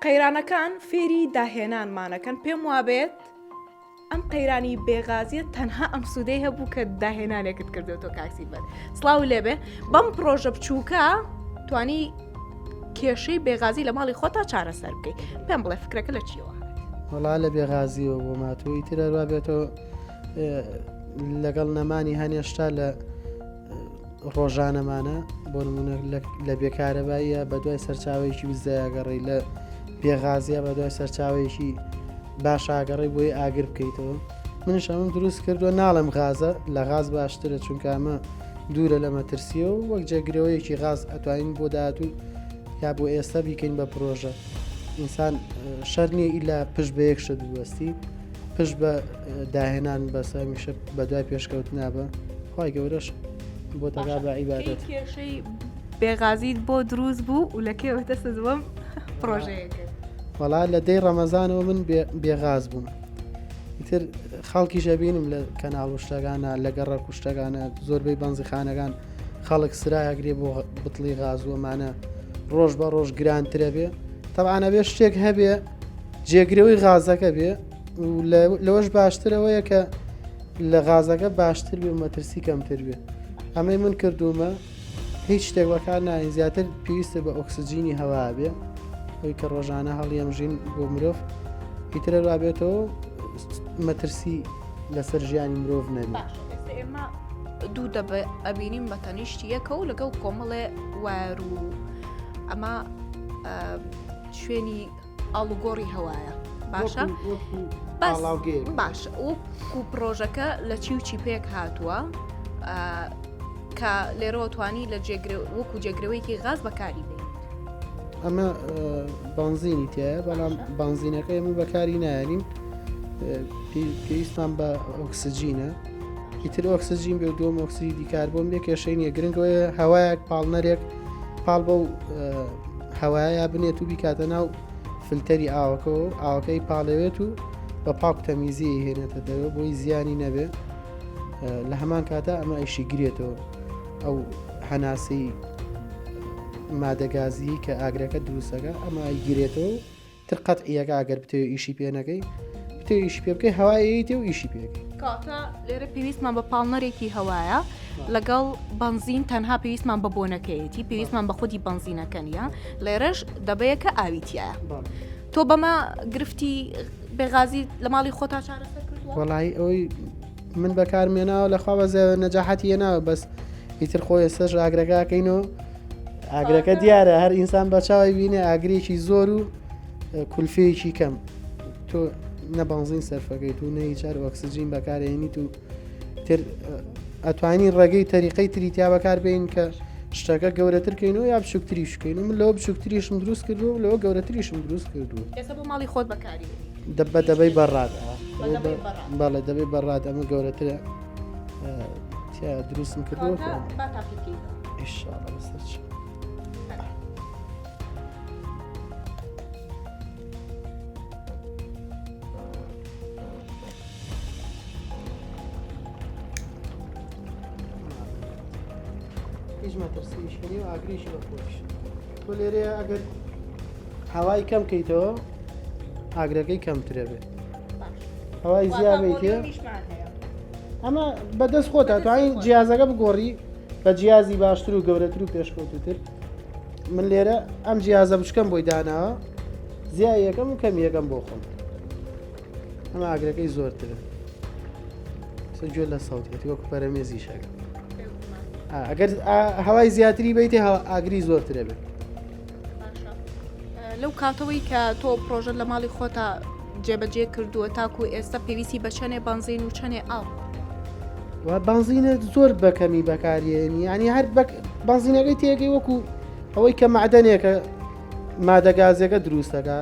قەیرانەکان فێری داهێنانمانەکەن پێم وابێت ئەم قەیرانی بێغازیە تەنها ئەم سوودەی هەبوو کە داهێنانێکت کردێتەوە کاکسی بەر سلااو لێبێ بەم پرۆژە بچووکە توانی کێشەی بێغازی لە ماڵی خۆتا چارەسەر بکەیت پێم بڵێ فکرەکە لە چیەوە وڵا لە بێغازیەوە بۆ ماتووی ترەروا بێتەوە لەگەڵ نەمانی هەنێشتا لە ڕۆژانەمانە بۆ نمونە لە بێکارەباییە بە دوای سەرچاوێکی وزایگەڕی لە بێغازیە بە دوای سەرچاوێکی باشاگەڕی بۆی ئاگر بکەیتەوە منش ئەمن دروست کردووە ناڵم غازە لە غاز باشترە چونکامە دوورە لە مەترسیە و وەک جێگرەوەیەکی غاز ئەتوانین بۆ داهاتوو یا بۆ ئێستا بیکەین بە پرۆژە ئینسان شەر نییە ئیلا پشت بە یەکشە دووەستی پشت بە داهێنان بەسە میشە بە دوای پێشکەوت نابە خی گەورەش بۆ تەگا بە عیبادەت کێشەی بێغازیت بۆ دروست بوو و لە کێوەتە سزوەم پرۆژەیە کرد وەڵا لە دەی ڕەمەزانەوە من بێغاز بووم ئیتر خەڵکی ژەبینم لە کەناڵ و شتەکانە لە گەڕە کوشتەکانە زۆربەی بەنزیخانەکان خەڵک سراگرێ بۆ بتڵی غازوەمانە ڕۆژ بە ڕۆژ گرانترە بێ تەعاە بێ شتێک هەبێ جێگرەوەی غازەکە بێ لەوەش باشترەوەیە کە لە غازەکە باشتر بێ مەترسی کەمتر بێ ئەمەی من کردومە هیچ شتێک بەکار ناین زیاتر پێویستە بە ئۆکسسیجینی هەوا بێ ئەوی کە ڕۆژانە هەڵیەم ژین بۆ مرۆڤ پیترە رابێتەوە مەترسی لەسەر ژیانی مرۆڤ نەبێت. دوو دەبێ ئەبینیم بە تەنیشتی یەکە و لەگەڵ کۆمەڵێ وار و ئەمە شوێنی ئاڵوگۆڕی هەوایە باشە باش و پرۆژەکە لە چی و چی پێک هاتووە کە لێرەوە توانی لە جێگر وەکو جێگرەوەیکی غاز بەکاری بێت ئەمە بانزینی تایە بەڵام بانزینەکە ئێمە بەکاری نایەنین پێویستمان بە ئۆکسسجینە ئیتر ئۆکسسجین بێ دوم ئۆکسسیدی کاربۆم بێ کێشەی نیە گرنگەوەی هەوایەک پاڵنەرێک پاڵ بەو هەوایە بنێت و بیکاتە ناو فلتەری ئاوەکە و ئاوەکەی پاڵەوێت و بە پاک تەمیزی هێنێتە دەوە بۆی زیانی نەبێت لە هەمان کاتە ئەمە ئەیشی گرێتەوە ئەو هەناسی مادەگازی کە ئاگرەکە دروستەکە ئەمە گرێتەوە تر قەتعیەکە ئەگەر بتەوێ ئیشی پێ نەکەی بتێ ئیشی پێ بکەی هەوایەیە تێ و ئیشی پێ کاتە لێرە پێویستمان بە پاڵنەرێکی هەوایە لەگەڵ بنزین تەنها پێویستمان بە بۆنەکەیەتی پێویستمان بە خودی بنزینەکە نیە لێرەش دەبەیەکە ئاویتیە تۆ بەمە گرفتی بێغازی لە ماڵی خۆتا چارەسەر وڵی ئەوەی من بەکارم هێناوە لە خوا بەزێ نەجاحەتی هێناوە بەس ئیتر خۆ ئێستش ئاگرەکەکەین و ئاگرەکە دیارە هەر ئینسان بە چاوی بینێ ئاگرێکی زۆر و کولفەیەکی کەم تۆ نەبانزین سەرفەکەیت و نەی چار ئۆکسسیجین بەکارێنیت و تر ئەتوانی ڕێگەی تەریقەی تریتیا بەکار بین کە شتەکە گەورەتر کەین و یا بچووکتریش کەین و من لەو بچووکتریشم دروست کردو و لەوە گەورەتریشم دروست کردو ماڵی خۆت بەکاری دەبە دەبەی بەڕات بەڵێ دەبێ بەڕات ئەمە گەورەترە دروستم کردو هیچ مەترسیشنی و ئاگریش بە خۆش تۆ لێرەیە ئەگەر هەوای کەم کەیتەوە ئاگرەکەی کەمترە بێت هەوای زیابێتێ ئەمە بەدەست خۆتا توانین جیازەکە بگۆڕی بە جیازی باشتر و گەورەتر و پێشکەوتتر من لێرە ئەم جیازە بچکەم بۆی داناوە زیا یەکەم و کەم یەکەم بۆ خۆم ئەمە ئاگرەکەی زۆرترە سجۆ لە سەڵتێتی وەکو پەرەمێزی شەکە ئەگەر هەوای زیاتری بیتێ ئاگری زۆرترە بێت لەو کاتەوەی کە تۆ پرۆژە لە ماڵی خۆتا جێبەجێ کردووە تاکو ئێستا پێویستی بە چەنێ بنزین و چەنێ ئاو و بنزینە زۆر بەکەمی بەکارێنی ینی هەر بنزینەکەی تێگەی وەکو ئەوەی کە معدەنێکە مادەگازێکە دروستەکە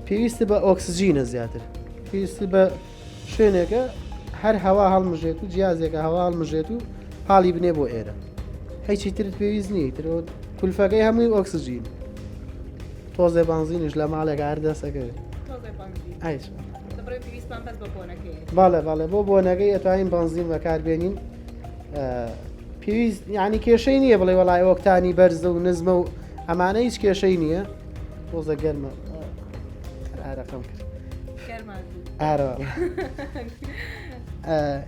پێویست بە ئۆکسسیجینە زیاتر پێویست بە شوێنێکە هەر هەوا هەڵمژێت و جیازێکە هەوا هەڵمژێت و پاڵی بنێ بۆ ئێرە هیچی ترت پێویست نیە ترۆت کولفەکەی هەمووی ئۆکسجین تۆزێ بانزینش لە ماڵێک هەر دەسەکەوێت باڵێ باڵێ بۆ بۆنەکەی ئەتوانین بانزین بەکاربێنین پێویست ینی کێشەی نییە بڵێ وڵای ئۆکتانی بەرزە و نزمە و ئەمانە هیچ کێشەی نییە تۆزە گەرمە ئارەقەم کرد ئارۆ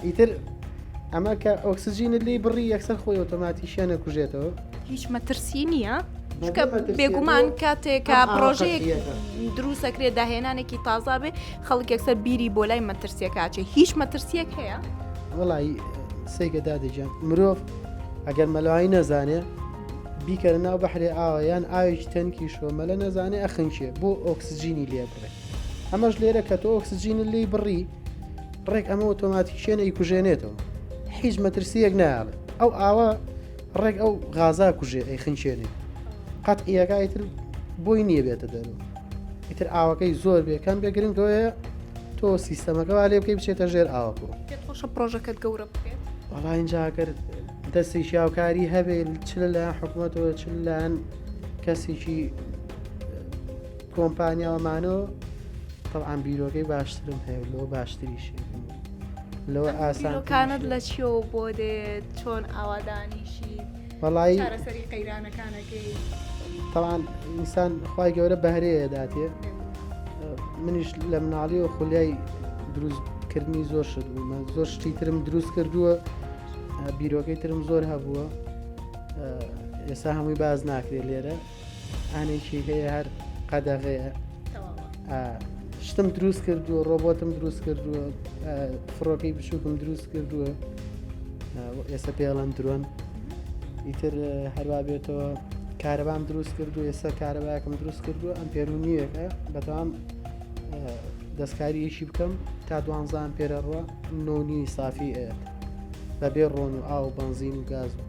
ئیتر ئەمە کە ئۆکسسیجینە لی بڕی یەکسەر خۆی ئۆتۆماتیشە نەکوژێتەوە هیچ مەترسی نییە چکە بێگومان کاتێکە پرۆژەیەک دروستەکرێت داهێنانێکی تازا بێ خەڵک یەکسەر بیری بۆ لای مەترسیەکچێ هیچ مەترسیەک هەیە وڵی سێگەدا دەجان مرۆڤ ئەگەر مەلوایی نەزانێ بیکەرە ناو بەحرێ ئاوە یان ئاوێکی تەنکی شۆمەلە نەزانێ ئەخنکێ بۆ ئۆکسسیجینی لێ بڕێت ئەمەش لێرە کە تۆ ئۆکسجینت لێی بڕی ڕێک ئەمە ئۆتۆماتیکیە ئەیکوژێنێتەوە حیز مەترسیەک ناڵێ ئەو ئاوە ڕێک ئەو غازا کوژێ ئەی خنچێنێ قەت ئیەکایتر بۆی نییە بێتە دەرو ئیتر ئاوەکەی زۆر بێکەم بێ گرنگەوەیە تۆ سیستەمەکە وا لێ بکەی بچێتە ژێر ئاوەکە خۆشە پرۆژەکەت گەورە بکرێت وڵا اینجاگەر دەستی شیاوکاری هەبێت چ لە حکوومەتەوە چ لایەن کەسێکی کۆمپانیا و مانۆ تەبعان بیرۆکەی باشترم هەیە و لەوە باشتریشی لەوە ئاسان بیرۆکانت لە چیەوە بۆ دێت چۆن ئاوادانیشی وەڵی چارەسەری قەیرانەکانەکەی تەوان ئینسان خی گەورە بەهرەیە داتێ منیش لە مناڵی و خولیای دروستکردنی زۆر شت بوومە زۆر شتی ترم دروست کردووە بیرۆکەی ترم زۆر هەبووە ئێستا هەمووی باز ناکرێت لێرە ئانێکی هەیە هەر قەدەغەیە شتم دروست کردووە ڕۆبۆتم دروست کردووە فڕۆکەی بچووکم دروست کردووە ئێستا پێڵەن درۆن ئیتر هەروا بێتەوە کارەبام دروست کردو ئێستا کارەباکم دروست کردو ئەم پێرونیەکە بەتام دەستکاریەکی بکەم تا دوانزان پێرەڕوە نۆنی سافی ئەێت بەبێ ڕۆن و ئاو بنزین و گاز و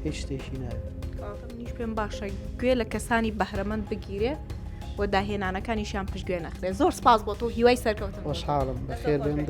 هیچ شتێکی ناوێت منیش پێم باشە گوێ لە کەسانی بەهرەمەند بگیرێ و داهێنانەکانیشیان پشتگوێ نەخرێ زۆر سپاس بۆ تۆ هیوای سەرکەوتن خۆشحاڵم بەخێر بێن